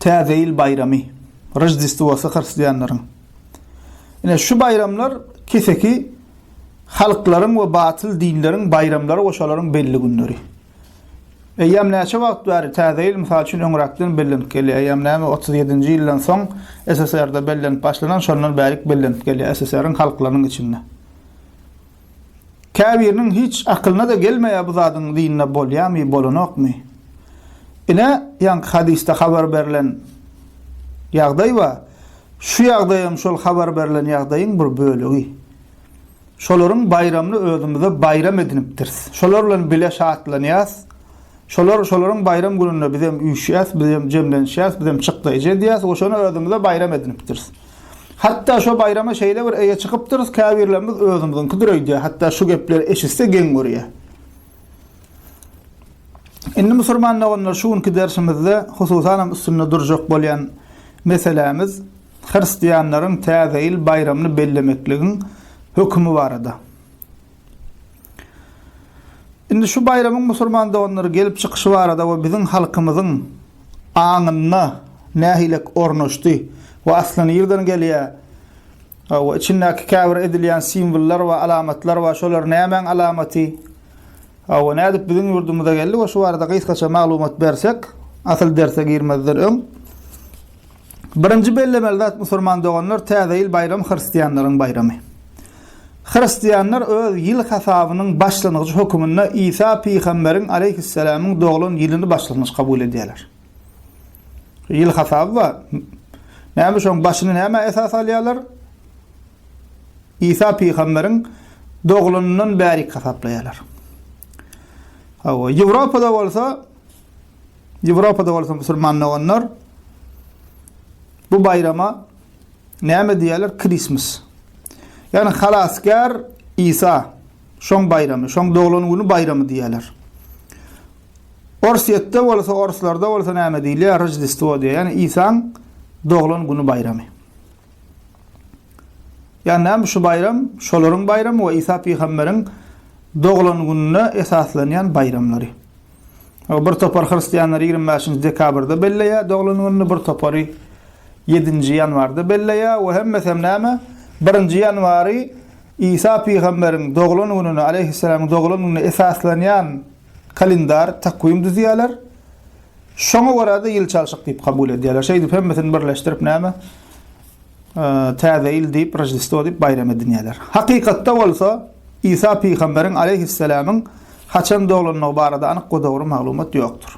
Täze ýyl baýramy, Roždestwosy hristianlaryň. Ine, şu baýramlar keseki halklaryň we batyl dinleriň baýramlary we şolaryň belli günleri. Eýýäm näçe wagt bäri Täze ýyl, mysal üçin, öňräkden bellenip gelýär. Eýýäm näme, otuz ýedinji ýyldan soň SSR-de bellenip başlanan, şondan bärik bellenip gelýär SSR-iň halklarynyň içinde. Käbiriniň hiç akylyna-da gelmeýär bu zadyň dinde bolýamy, bolanokmy. Ine, ýaňky hadysda habar berlen ýagdaý bar. Şu ýagdaýam şol habar berlen ýagdaýyň bir bölegi. Şolaryň baýramyny özümize baýram edinipdiris. Şolar bilen bile şatlanýas. Şolar şolaryň baýram gününde bizem üýşýäs, bizem jemlenişýäs, bizem çykdaýjy edýäs we şony özümize baýram edinipdiris. Hatda şo baýrama şeýle bir eýe çykypdyrys, käbirlerimiz özümiziňkidir öýdýär, hatda şu gepleri eşitse geň görýär. Indi musulman doganlar şu günki dersimizde hususanam üstünde durjak bolýan meselämiz hristianlaryň täze ýyl baýramyny bellemekligiň hökümi barada. Indi şu baýramyň musulman doganlara gelip çykyşy barada we biziň halkymyzyň aňynda nähilek ornaşdy we asly nirden gelýär we içindäki käbir edilýän simwollar we alamatlar we şolar nämäň alamaty we nädip biziň ýurdumyza geldi we şu barada gysgaça maglumat bersek, asyl derse girmezden öň. Birinji bellemeli zat musurman doganlar täze ýyl baýramy hristianlaryň baýramy. Hristianlar öz ýyl hasabynyň başlangyjy höküminde Isa pygamberiň aleýhisselamyň doglan ýylyny başlangyç kabul edýärler. Ýyl hasaby bar. Näme şoň başyny nämä esas alýarlar? Isa pygamberiň doglanyndan bärik hasaplaýarlar. Hawa, Ýewropada bolsa Ýewropada bolsa musulman doganlar bu baýrama näme diýýärler? Krismas. Ýagny Halasgär Isa şoň baýramy, şoň doglan güni baýramy diýýärler. Orsýetde bolsa, orslarda bolsa näme diýilýär? Rojdestwo diýýär. Ýagny Isaň doglan güni baýramy. Ýagny näme şu baýram? Şolaryň baýramy we Isa pygamberiň doglan gününe esaslanýan baýramlary. Bir topar hristianlar ýigrimi bäşinji dekabrda belleýär doglan gününi, bir topary ýedinji ýanwarda belleýär we hemmesem näme, birinji ýanwary Isa pygamberiň doglan gününe, aleýhisselamyň doglan gününe esaslanýan kalendar, takwim düzýärler. Şoňa görä-de ýyl çalşyk diýip kabul edýärler. Şeýdip hemmesini birleşdirip näme, Täze ýyl diýip, Roždestwo diýip baýram edinýärler. Hakykatda bolsa, Isa pygamberiň, aleýhisselamyň, haçan doglandygy barada anyk we dogry maglumat ýokdur.